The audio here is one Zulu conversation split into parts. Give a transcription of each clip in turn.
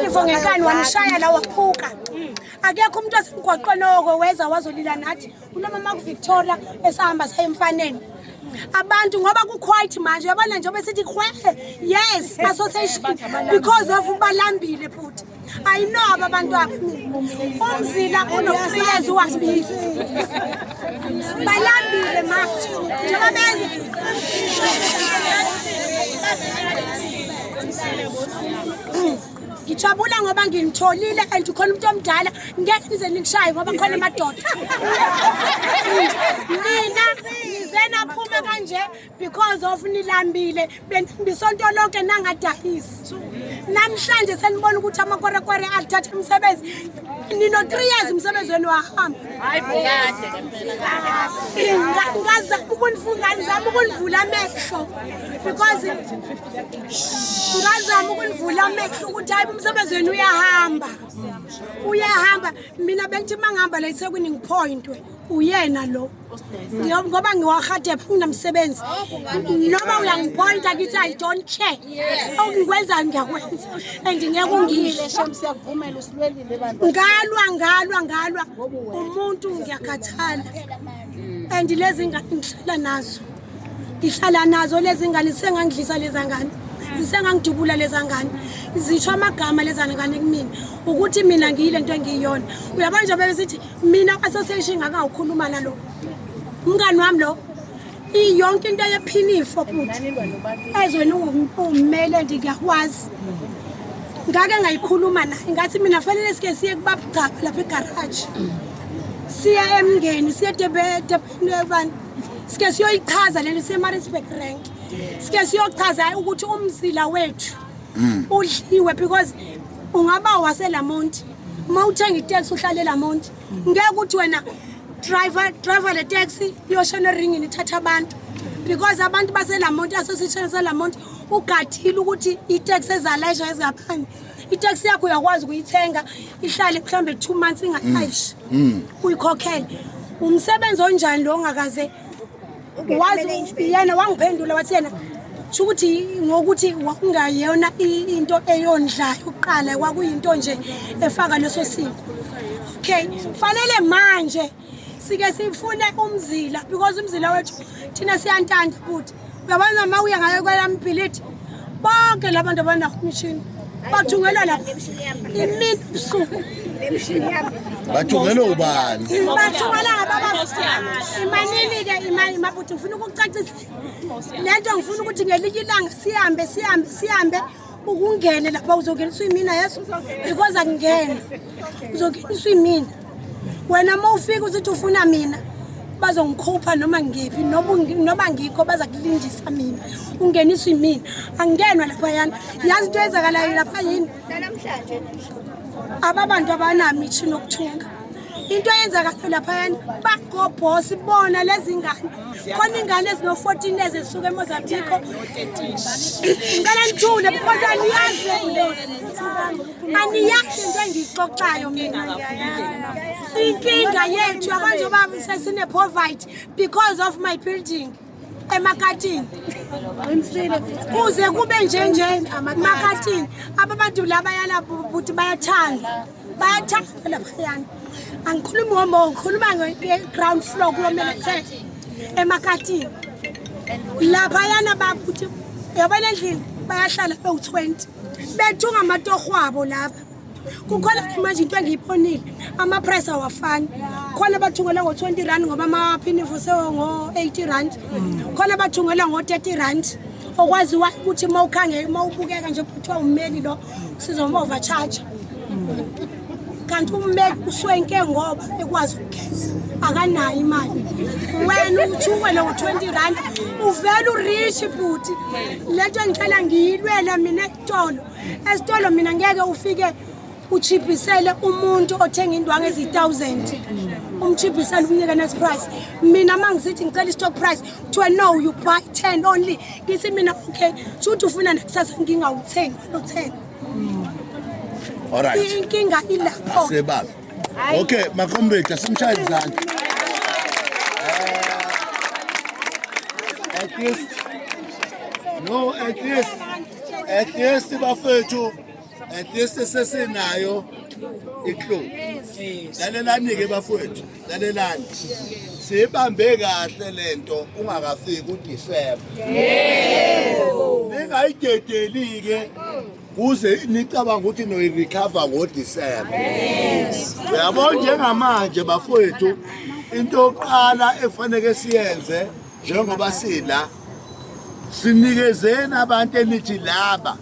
Ivo ngenkani wamshaya la waphuka akekho umuntu wasemgwaqweni oko weza wazolila nathi unomama kuvictoria esahamba saye emfaneni abantu ngoba ku-quite manje yabona njengoba sithi khwehe yes association because of ubalambile futhi ayinoba abantu aba umzila unokuhlezi wabili Balambile ma. Njengoba benze. ngijabula ngoba nginitholile and ukhona umuntu omdala ngeke nize nikushaye ngoba khona amadoda nina nize naphume kanje because of nilambile bisonto lonke nangadayisi namhlanje senibona ukuthi amakorekwere athatha umsebenzi nino-three years umsebenzi wenu wahamba ngazama ukunifungazama ukunivula amehlo because ngazama ukunivula amehlo ukuthi hayi umsebenzi wenu uyahamba uyahamba mina bengithi uma ngihamba la isekwini ngiphoyintwe uyena lo Ngiyo- ngoba ngiwahade nginamsebenzi noma uyangipointa kithi i don't care okungikwenzayo ngiyakwenza and ngeke ungisho siyakuvumela usilwelile bandla ngalwa ngalwa ngalwa umuntu ngiyakhathala and lezi ngane ngihlala nazo ngihlala nazo lezi ngane zisengangidlisa leza ngane zisengangidubula leza ngane zisho amagama leza ngane kumina ukuthi mina ngiyile nto engiyiyona uyabona nje bebesithi mina association ngakawukhuluma nalo umngani wami lo iyonke into yephinifo futhi ezweni uwumele nje ngiyakwazi ngake ngayikhuluma naye ngathi mina fanele sike siye kubabugcaba lapha egaraji siya emngeni siye debedebani sike siyoyichaza lento isemarisburg rank sike siyochaza ukuthi umzila wethu mm. udliwe because ungaba waselamonti uma uthenga iteksi uhlale lamonti ngeke ukuthi wena driver driver le taxi iyoshona eringini ithatha abantu because abantu baselamonti association selamonti ugadile ukuthi iteksi ezalayisha ezingaphandle itaxi yakho uyakwazi ukuyithenga ihlale mhlawumbe two months ingaaish mm. mm. uyikhokhele umsebenzi onjani lo ongakaze wazi yena wangiphendula wathi yena sho ukuthi ngokuthi wakungayona into eyondlayo ukuqala kwakuyinto nje efaka leso siko okay fanele manje sike sifune umzila because umzila wethu thina siyantanda futhi uyabona uma uya ngayo kwelamibhilidi bonke la bantu abanawo umshini bathungelwa lapha imini busuku bathungelwe ubani bathungela imanini-ke imani mabuthi ngifuna ukucacisa le nto ngifuna ukuthi ngelinye ilanga sihambe sihambe sihambe ukungene lapha uzongeniswa imina yeso because akungene uzongeniswa imina wena uma ufika uzithi ufuna mina bazongikhupha noma ngiphi noma ngikho baza kulindisa mina ungeniswa imina angingenwa lapha yani yazi into eyenzakalayo lapha yini ababantu abanami ithi nokuthunga into eyenzakale laphayana bagobhosa ibona lezi ngane khona ingane ezino-fourteen ezi zisuke emozambico ngicela nithule because aniyazi aniyazi into engiyixoxayo mina inkinga yethu yabanje uba sesinepovite because of my building emakatini qinisile kuze kube njenjeni makatini ababadu laba yalapho ukuthi bayathanda bayathanda labayana angikhulumi ngomo ngikhuluma nge-ground floor kulomele kuthethe emakatini laphayana bakuthi yabona endlini bayahlala bewu-twenty bethunga amatohwabo lapha kukhona manje into engiyibonile ama-price awafani khona bathungela ngo-20 rand ngoba amaphini fusewo ngo-80 rand khona bathungela ngo-30 rand okwazi ukuthi uma ukhange uma ubukeka nje kuthiwa ummeli lo sizoma overcharge kanti ummeli uswenke ngoba ekwazi ukugeza akanayo imali wena uthuwele ngo-20 rand uvele urishi bhuti le nto engicela ngiyilwela mina Tolo. Esitolo mina ngeke ufike uchiphisele umuntu othenga indwangu ezi-1000 umchiphisele umnike net price mina uma ngisithi ngicela i-stock price kuthiwa no you buy 10 only ngithi mina okay sho ukuthi ufuna nakusasa ngingawuthengi alo 10 Alright. inkinga ilapho Asebala. Okay, my comrade, asimshaye izandla. At least no, at least at least bafethu at least sesinayo iklovu. Lalelani-ke bafowethu, lalelani. Sibambe kahle lento ungakafiki uDisemba. Yebo. Ningayidedeli-ke kuze nicabanga ukuthi noyirecover ngodisemba uyabo njengamanje bafowethu into yokuqala efaneke siyenze njengoba sila sinikezeni abantu enithi laba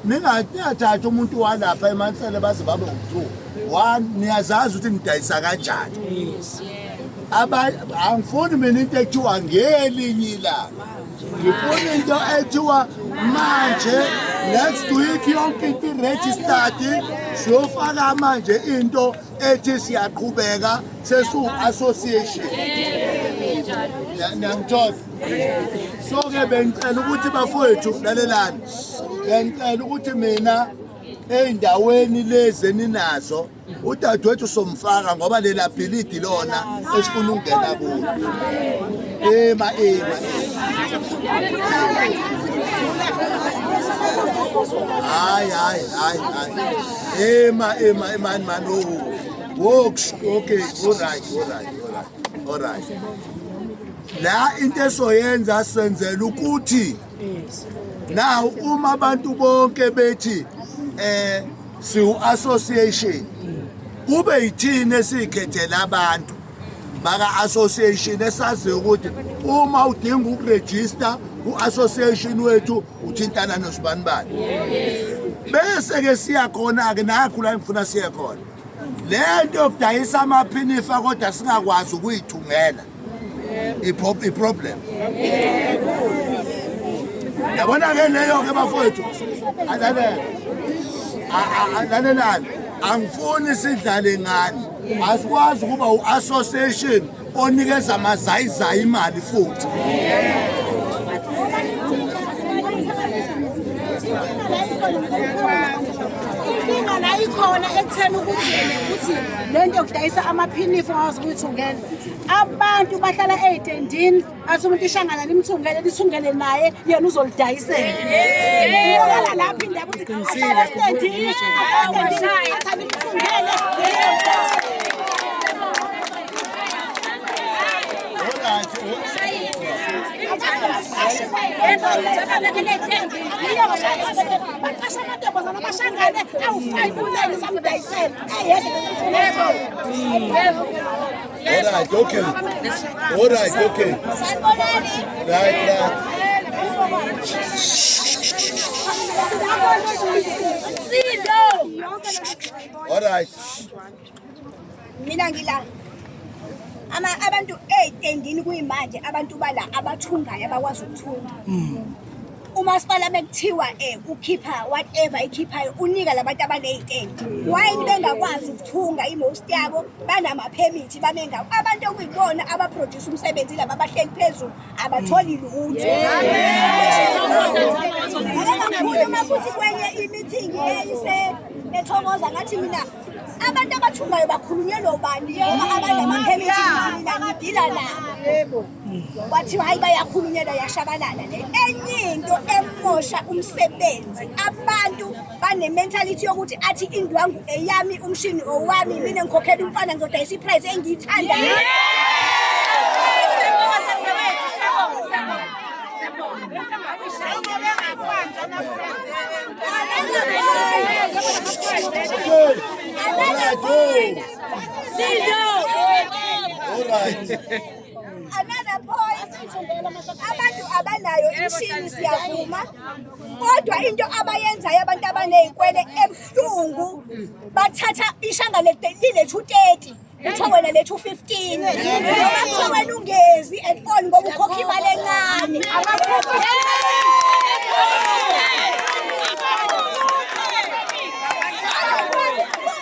ningathatha umuntu walapha emansele baze babe ngu-two one niyazazi ukuthi nidayisa kanjani angifuni mina into ekuthiwa ngelinye ilanga ngifuna into ethiwa manje next week yonke into iregistered siyofaka manje into ethi siyaqhubeka sesu-association niyangithola so-ke bengicela ukuthi bafowethu lalelani bengicela ukuthi mina ey'ndaweni lezi eninazo udadewethu somfaka ngoba lela bhilidi lona esifuna ukungena kulo ema ema hayi hayi hayi hayi ema ema emani mani o woks okay orit orit orit orit la into esoyenza senzela ukuthi now uma abantu bonke bethi eh siwu association kube yithini esikhethela abantu baka association esazi ukuthi uma udinga ukuregister ku association wethu uthintana nosibani bani bese ke siya khona ke nakho la ngifuna siye khona lento yokudayisa amaphinifa kodwa singakwazi ukuyithungela iproblem yabona ke leyo ke bafowethu alalele alalelani angifuni sidlale ngani asikwazi ukuba u-association onikeza amazayizayi imali futhi inkinga la ikhona ekutheni ukuthi ukuthi le nto kudayisa amaphinifu awazi ukuthi ungena abantu bahlala ey'tendini athi umuntu ishangana limthungele lithungele naye yena uzolidayisela lapho indaba ukuthi ahlala esitendini baqasha amantombazana amashangane awu-five ulele samdayisela Alright, okay. Alright, okay. Right, right. Alright. Mina ngila. Ama abantu 8 endini kuyimanje abantu bala abathungayo abakwazi ukuthunga. Mm. umasipala bekuthiwa eh ukhipha whatever ikhiphayo unika labantu abanezitende why bengakwazi ukuthunga imost yabo banamaphemithi babengako abantu okuyibona abaproduce umsebenzi laba abahleli phezulu abatholi lutho abakhuluma futhi kwenye imithingi eyise ethokoza ngathi mina abantu abathungayo bakhulunyelwa ubani ngoba abanye amaphemithi mina ngidila nabo kwathiwa hayi bayakhulunyelwa yashabalala le enye into emosha umsebenzi abantu bane-mentality yokuthi athi indwangu eyami umshini owami mina ngikhokhela umfana ngizodayisa iprize engiyithandayo Sit down. All right. Another point, abantu abanayo imishini siyavuma, kodwa into abayenzayo abantu abaney'kwele ebuhlungu bathatha ishanga lilethu 30 uthiwa wena lethu 15 noma kuthiwa wena ungezi and on ngoba ukhokha imali encane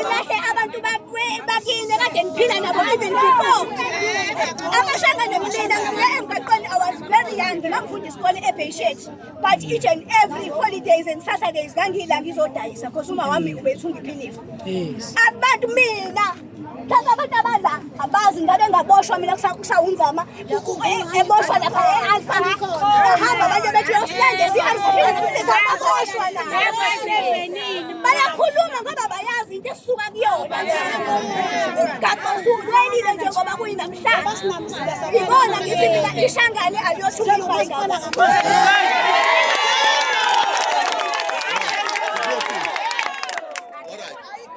ulahle abantu bakini kade niphila nabo even before amashanga nemlila ngiya emgaqweni i was very young ngangifunda isikole ebheyishethi but each and every holidays and saturdays ngangiyila ngizodayisa because uma wami ubethunga iphinifa abantu mina Thatha abantu abadla abazi ngabe ngaboshwa mina kusawunzama eboshwa lapha e-alfa bahamba abantu bethi yosilande siyaboshwa na bayakhuluma ngoba bayazi into esuka kuyona kakozulwenile nje ngoba kuyinamhlanje ibona ngithi mina ishangane aliyothi umlungaingaba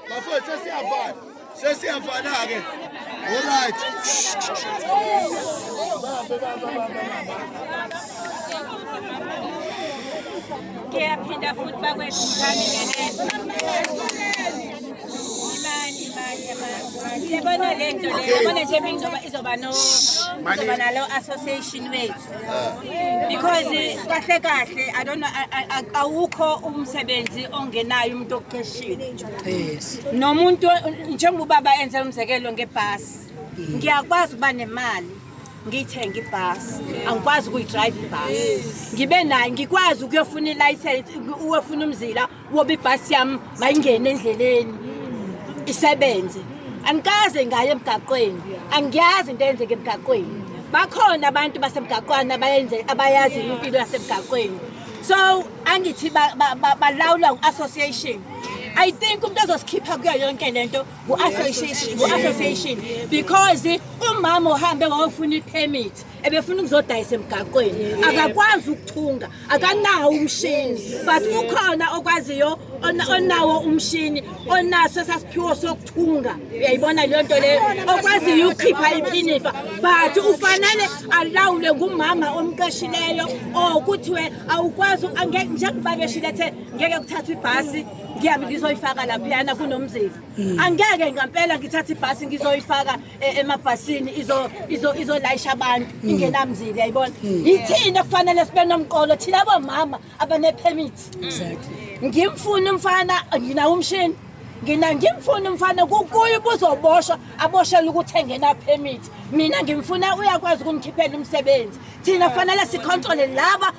Bafowethu sesiyavala. Sesiyavala ke. All right. Ngiyaphinda futhi bakwethu ngani yabona le nto le yabona nje izoba no izoba nalo association wethu because kahle kahle i don't know awukho umsebenzi ongenayo umuntu oqeshiwe yes nomuntu njengoba ubaba enze umzekelo ngebhasi ngiyakwazi ukuba nemali ngiyithenga ibhasi angikwazi ukuyidrayiva ibhasi ngibe nayo ngikwazi ukuyofuna ilayisensi uyofuna umzila woba ibhasi yami mayingene endleleni isebenze angikaze ngaye emgaqweni angiyazi into eyenzeka emgaqweni bakhona abantu basemgaqwana abayazi impilo yasemgaqweni so angithi balawulwa ngu-association I think umuntu ozosikhipha kuyo yonke lento ngu-association ngu-association because umama uhambe wayofuna i-permit ebefuna ukuzodayisa emgaqweni akakwazi ukuthunga akanawo umshini but ukhona okwaziyo onawo umshini onaso esasiphiwo sokuthunga uyayibona leyo nto leyo okwaziyo ukukhipha iphinifa but ufanele alawule ngumama omqeshileyo or kuthiwe awukwazi njengoba beshile ethe ngeke kuthathwa ibhasi ngiyabe ngizoyifaka laphiyana kunomzimba angeke ngampela ngithathe ibhasi ngizoyifaka e- emabhasini izo izo izolayisha abantu Hmm. ingenamzili yayibona yithini ekufanele sibe nomqolo thina bomama abanepermit ngimfuna umfana nginawo umshini ngina ngimfuna umfana kukuye ubuzoboshwa aboshela ukuthi engena permit mina ngimfuna uyakwazi ukumkhiphela umsebenzi thina kufanele sicontrole laba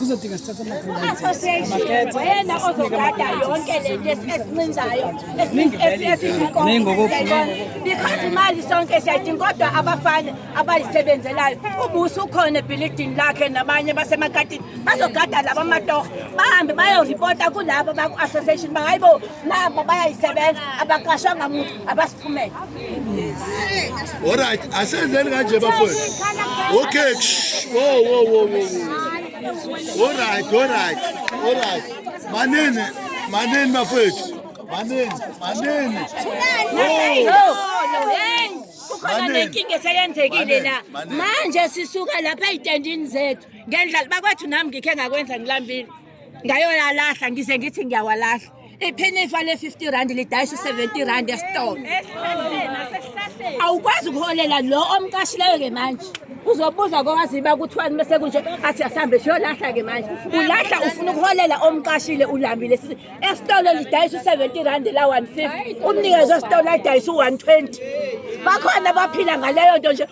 kuzodinga sithatha amakhethaoyena ozogada yonke le nto esincinzayo because imali sonke siyayidinga kodwa abafana abayisebenzelayo ubusi ukhona ebhilidini lakhe nabanye basemakatini bazogada laba amatoho bahambe bayoripota kulaba baku-association bangayibo nabo bayayisebenza abaqashwanga muntu abasiphumele All right, asenzeni kanje bafowethu. Okay. Wo wo wo wo. All right, all right. All right. Manene, manene bafowethu. Manene, manene. Khona nenkinga eseyenzekile la. Manje sisuka lapha ezitendini zethu. Ngendlala bakwethu nami ngikhe ngakwenza ngilambile. Ngayoyalahla ngize ngithi ngiyawalahla. iphinifa le-50 rand lidayisa u-70 rand esitolo awukwazi ukuholela lo omqashileyo-ke manje uzobuza kowaziba kuthiwani mese kunje athi asihambe siyolahla-ke manje ulahla ufuna ukuholela omqashile ulambile sithi esitolo lidayisa u-70 rand la-150 umnikezi wesitolo adayisa u-120 bakhona baphila ngaleyo nto nje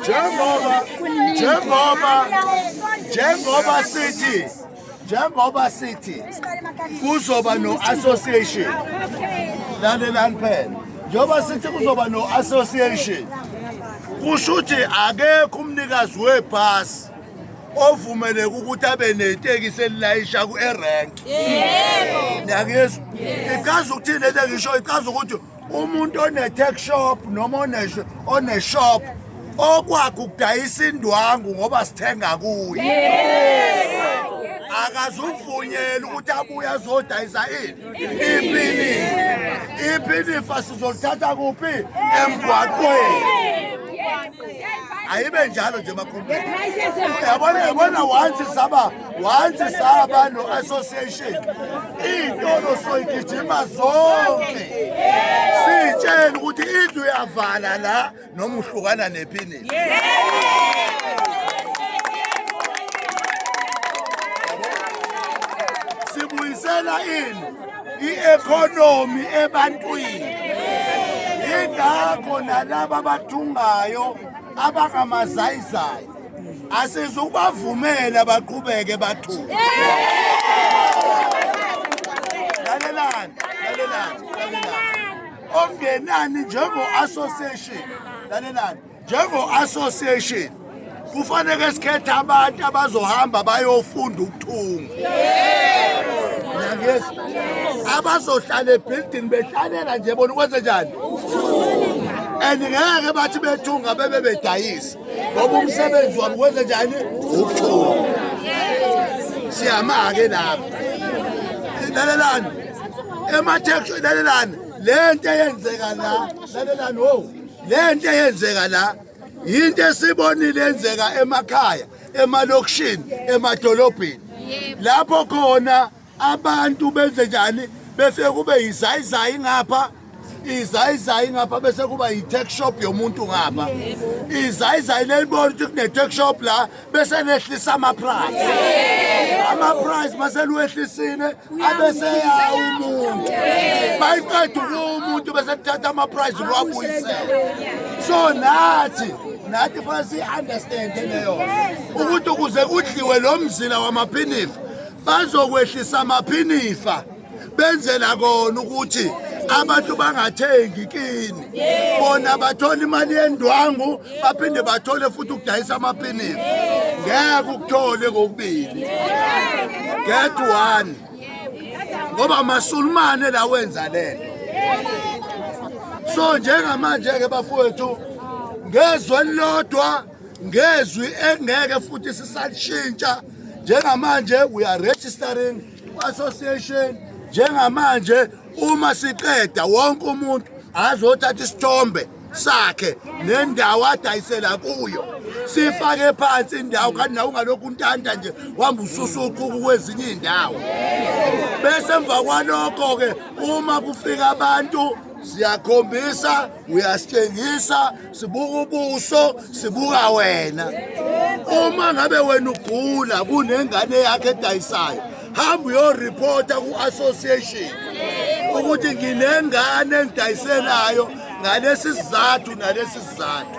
njengoba njengoba njengoba sithi njengoba sithi kuzoba no-association lalelani phela njengoba sithi kuzoba no-association kusho ukuthi akekho umnikazi webhasi ovumeleka ukuthi abe netekisi elilayisha ku-erank yebo niyakizwa ichaza ukuthini lento engisho ichaza ukuthi umuntu one-tech shop noma one-shop okwakhe ukudayisa indwangu ngoba sithenga kuye akazuvunyela ukuthi abuye azodayisa ini iphini iphini ifa sizolithatha kuphi emgwaqweni ayibe njalo nje makhombeni yabona yabona once saba once saba no association iy'tolo soyigijima zonke siyitshela ukuthi indlu yavala la noma uhlukana nephini sibuyisela ini i-economy ebantwini yingakho nalaba abathungayo abangamazayizayi asizukubavumela baqhubeke bathuke lalelani lalelani lalelani ongenani njengo-association lalelani njengo-association kufanele sikhethe abantu abazohamba bayofunda ukuthunga yangezi abazohlala ebhildini behlalela nje bona ukwenze njani and ngeke bathi bethunga bebe bedayisa ngoba umsebenzi wabo kwenze njani ukuthunga siyama-ke lapho lalelani emathekisini lalelani le nto eyenzeka la lalelani wo le nto eyenzeka la yinto esibonile yenzeka emakhaya emalokishini emadolobheni lapho khona abantu benze njani bese kube yizayizayi ngapha izayizayi ngapha bese kuba yi-tech shop yomuntu ngapha izayizayi lelibona ukuthi kune-tech shop la bese nehlisa ama-price ama-price maseluwehlisile abeseyaha umuntu bayiqeda ukuwa umuntu bese kuthatha ama-price ukuwabuyisela so nathi nathi fanele siyi-understande leyo ukuthi ukuze kudliwe lo mzila wamaphinifa bazokwehlisamaphinifa benzela kona ukuthi abantu bangathengi kini bona bathola imali yendwangu baphinde bathole futhi ukudayisa amapinisi ngeke ukuthole kokubili get one ngoba masulumane la wenza lento so njengamanje-ke bafowethu ngezwi elilodwa ngezwi engeke futhi sisalishintsha njengamanje we are registering Association njengamanje uma siqeda wonke umuntu azothatha isithombe sakhe nendawo adayisela kuyo sifake phansi indawo kanti nawe ungalokhu untanda nje wamba ususuquku kwezinye iy'ndawo bese emva kwalokho-ke uma kufika abantu siyakhombisa uyasitshengisa sibuka ubuso sibuka wena uma ngabe wena ugula kunengane yakhe edayisayo hamba uyoripota ku-association ukuthi nginengane engidayiselayo ngalesi sizathu nalesi sizathu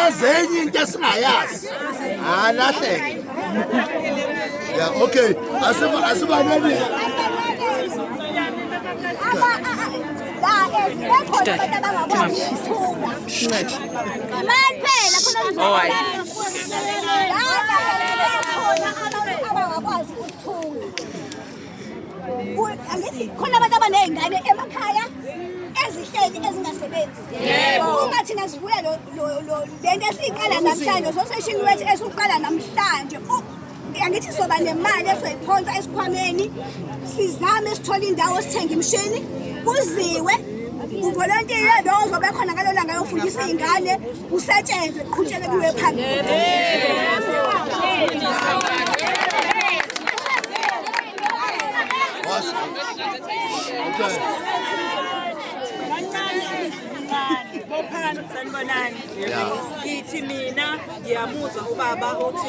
azenye into esingayazi alahleke ya okay asiba asiba nani All right. angithi khona abantu abaney'ngane emakhaya ezihleli ezingasebenzi uma thina sivuya le nto esiyiqala namhlanje soseshini wethu esiwuqala namhlanje angithi soba nemali esoyiphonsa esikhwameni sizame sithole indawo sithenge imishini kuziwe uvolontiye lo ozobe khona ngalolanga yofundisa iy'ngane kusetshenzwe kuqhutshele kuwe phambili Ngithi mina ngiyamuzwa ubaba uthi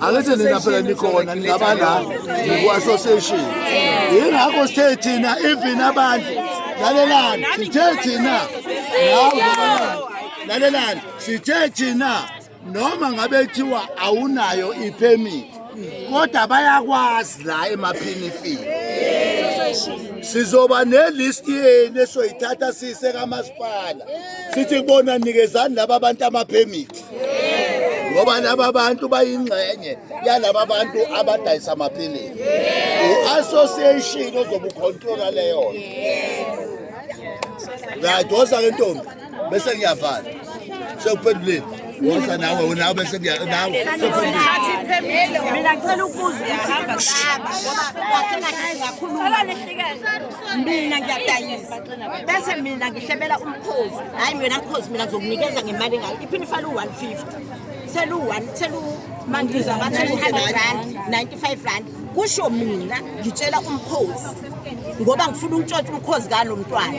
angithi nina phela nikhona ningaba la ngikwa-association yingakho sithe thina even abantu lalelani sithe thina lalelani sithe thina noma ngabe kuthiwa awunayo iphemit kodwa bayakwazi la emaphinifini sizoba nelist yenu esoyithatha siyise kamasipala sithi kubona nikezani laba abantu amaphemithi ngoba laba bantu bayingxenye yalaba bantu abadayisa amaphilisi u-association ozobe ukhontrola leyo right wosa ke ntombi bese ngiyavala sekuphenduleni wosa nawe unawe bese nawe mina ngicela ukubuza ukuthi ngoba wathi ngathi ngakhuluma mina ngiyadayisa bese mina ngihlebela umkhozi hhayi wena mkhozi mina ngizokunikeza ngemali engayo iphini ifale u-one fifty selu-one selumandiza ba-two hundred rand ninety-five rand kusho mina ngitshela umkhozi ngoba ngifuna ukutshontsha umkhozi kalo mntwana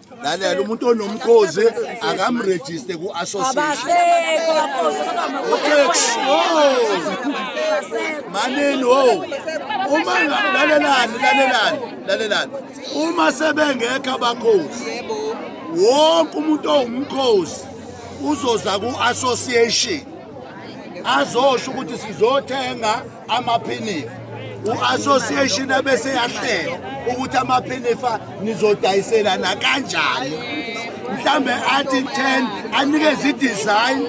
lalela umuntu onomkhozi akamrejiste ku-associationmanini o oh. uma lalelani lalelani lalelani uma sebengekho abakhozi wonke umuntu owumkhozi uzoza ku-association azosho ukuthi sizothenga amaphinifa u-association abese yahlela ukuthi amaphinifa nizodayiselana kanjani mhlambe athi 10 anikeze i-design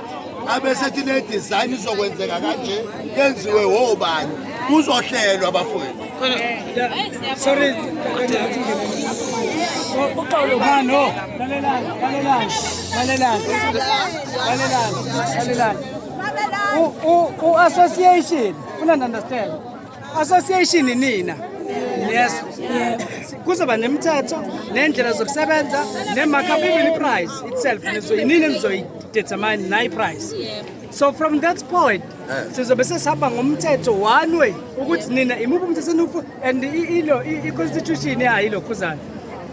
abesethi le design izokwenzeka kanje yenziwe wobani kuzohlelwa abafowethu sorry no lalelani lalelani lalelani lalelani lalelani u-association funa understand association nina yes kuzoba nemithetho nendlela zokusebenza ne-markup even i-price itself yinini enizoyidetermine nayi price so from that point eh. sizobe sesihamba ngomthetho one way ukuthi nina imuphi umthetho eniwufuna and i-constitution yayo ilokhuzana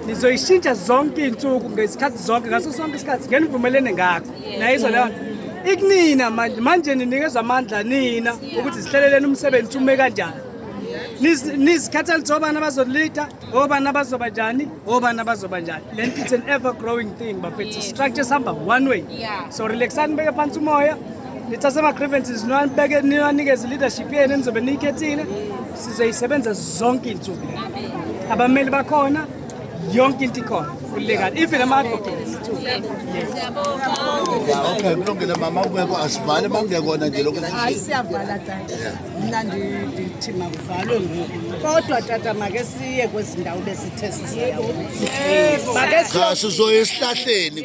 nizoyishintsha zonke iy'nsuku ngesikhathi zonke ngaso sonke isikhathi ngenivumelene ngakho nayizwa leyo ikunina manje manje ninikeza amandla nina ukuthi zihleleleni umsebenzi ume kanjani nizikhatha lithi obani abazolida obani abazoba njani obani abazoba njani le nto it's an ever growing thing bafethu structure sihamba one way so relaxani beke phansi umoya nithathe ama-grievances niwanibeke niwanikeze i-leadership yenu enizobe niyikhethile sizoyisebenza zonke iy'nsuku abameli bakhona yonke into ikhona ulegal even ama-advocates okay kulungile mama ubeko asivale bangekona nje lokhu hayi siyavala tata mna ndithi makuvalwe ngoku kodwa tata make siye kwezindawo besithe sisiyayo make sizoye esihlahleni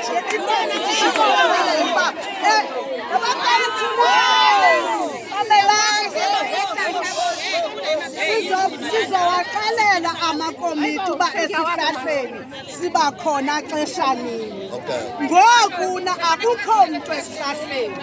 sizowaxelela amakomiti uba esihlahleni siba khona xesha nini ngoku na akukho mntu esihlahleni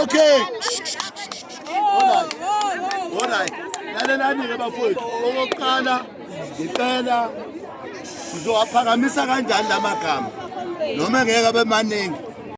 okay olright lalelani-ke bafowethu okokuqala ngicela sizowaphakamisa kanjani la magama noma ngeke abe maningi